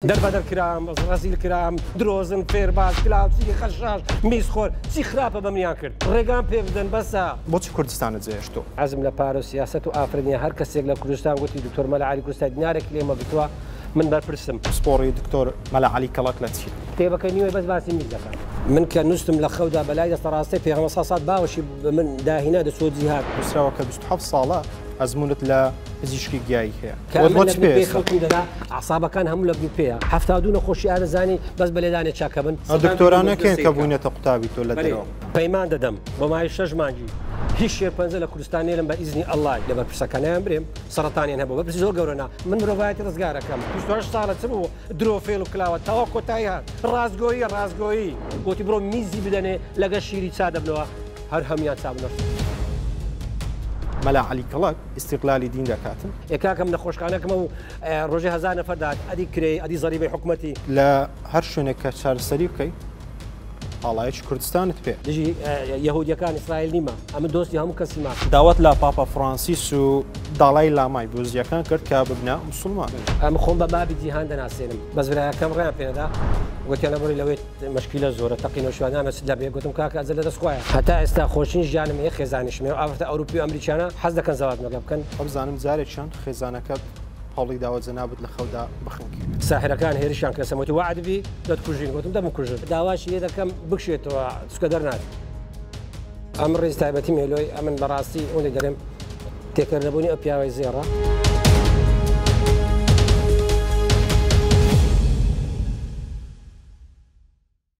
دەربەدەر کرام ڕەزیل کرام درۆزن فێرباز کلاوچی خەشاش میزخۆر چی خراپە بە منیان کرد ڕێگام پێ بدەن بەسە. بۆچی کوردستانت جێهێشت تۆ؟ حەزم لە پارە و سیاسەت و ئافرەت نیە هەر کەسێک لە کوردستان گۆتی دکتۆر مەلا عەلی کوردستانی دینارێکی لێمە گرتوە من بەرپرسم. پسپۆڕی دکتۆر مەلا عەلی کەڵەک لە چی؟ کتێبەکەی نیوەی بەس باسی میز دەکات. من کە نوستم لە خەودا بە لای دەستە ڕاستەی پێغەمبەر صلی سات باوەشی بە من داهینا دەچووە جیهاد. نوسراوە کە بیست و حەفت ساڵە ئەزمونت لە پزیشکی گیایی هەیە. عسابەکان هەموو لە گروپێ هەفتا دوو نەخۆشی ئارزانانی بەس بە لێدانێ چاکە بن دکتۆرانەکەێن کە بوونێتە قوتابی تۆ لە دەرەوە پەیمان دەدەم بە مای شەش مانگی هیچ شێ پەنج لە کوردستان نێرم بە ئیزنی ئەلای لە بەرپرسەکانیان برێم سەرتانیان هەبوو بەپرسی زۆر گەورەنا من مرۆڤایەتی ڕزگارەکەم پشتش ساڵە چ بوو درۆفێل و کلاوە تاوا کۆتایی هات ڕاستگۆیی ڕاستگۆیی وتی بڕۆ میزی بدەنێ لەگە شیری چا دەبنەوە هەر هەمیان چابنەوە مەلا علی کڵک ئیستیقلالی دین دەکات. ئێ کاکم نەخۆشخانەکمە و ڕۆژێ هەزار نەفەر دەهات ئەدی کرێی ئەدی زەریبەی حکومەتی. لە هەر شوێنێک کە چارەسەری بکەی ئاڵایەکی کوردستانت پێ. دژی یەهودیەکان ئیسرائیل نیمە ئەمن دۆستی هەموو کەسیمە. داوات لە پاپا فرانسیس و داڵای لامای بوزیەکان کرد کە ببنە موسڵمان. ئەمن خۆم بە بابی جیهان دەناسێنم بەس برایەکەم ڕێیان پێنەدا گۆتیان ئەبڕی لەوێت. مشکیلە زۆرە تەقی نەوشیوان ئەمە چ دەبێ گوتم کاکە ئەجەل لەدەست خوایە هەتا ئێستا خۆشترین ژیانم هەیە خێزانیشم هەیە و ئافرەتە ئەوروپی و ئەمریکیانە حەز دەکەن زەواجمە لەگەڵ بکەن وابزانم جارێ چەند خێزانەکەت هەوڵی داوە جەنابت لە خەودا بخنکێنێت ساحرەکان هێرشیان کردە سەرم وتی وەعد بی دەتکوژین گوتم دەمکوژن داواشی لێ دەکەم بکشێتەوە چکە دەرناچێت ئەم ڕیز تایبەتی مێلۆی ئەمن بەڕاستی ئەوەی دەڵێم تێکەر نەبونی ئەو پیاوەی زێڕە.